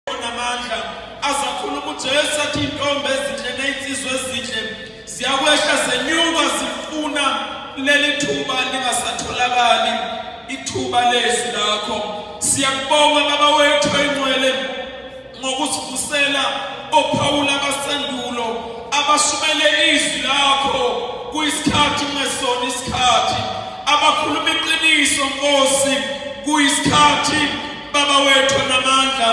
namandla azakhuluma uJesu athi intombi ezinhle nezinsizwa ezinhle ziyakwehla zenyuka zifuna leli thuba lingasatholakali ithuba lezwi lakho siyakubonga baba wethu oyingcwele ngokusivusela ophawula abasendulo abashumele izwi lakho kuyisikhathi ngesona isikhathi abakhuluma iqiniso nkosi kuyisikhathi Baba wethu namandla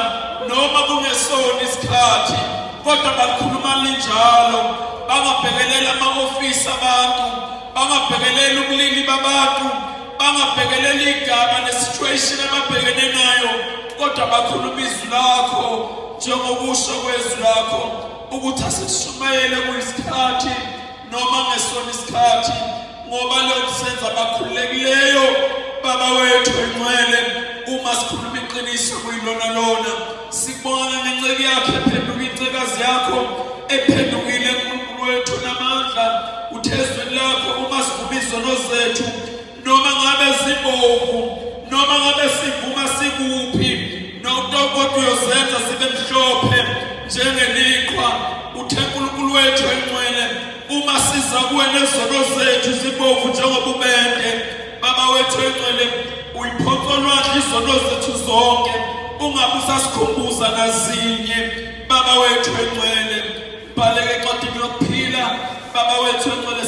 noma kungesona isikhathi kodwa bakhuluma linjalo bangabhekeleli ama-ofisi abantu bangabhekeleli ubulili babantu bangabhekeleli igama nesituation ababhekene nayo kodwa bakhuluma izwi lakho njengokusho kwezwi lakho ukuthi asishumayele kuyisikhathi noma ngesona isikhathi ngoba lokhu senza abakhululekileyo baba wethu engcwele uma sikhuluma iqiniso kuyilona lona sibona nenceki yakhe ephenduka incekazi yakho ephendukile enkulunkulu wethu namandla uthezweni lakho uma sivuma izono zethu noma ngabe sibovu noma ngabe sivuma sikuphi nokutokodwa uyosenza sibe mhlophe njengeliqhwa uthe uNkulunkulu wethu engcwele uma siza kuwe nezono zethu zibovu njengoba ubende baba wethu engcwele uyiphonsolwandla izono zethu zonke ungabe usasikhumbuza nazinye baba wethu engcwele bhaleke encwadini yokuphila baba wethu engcwele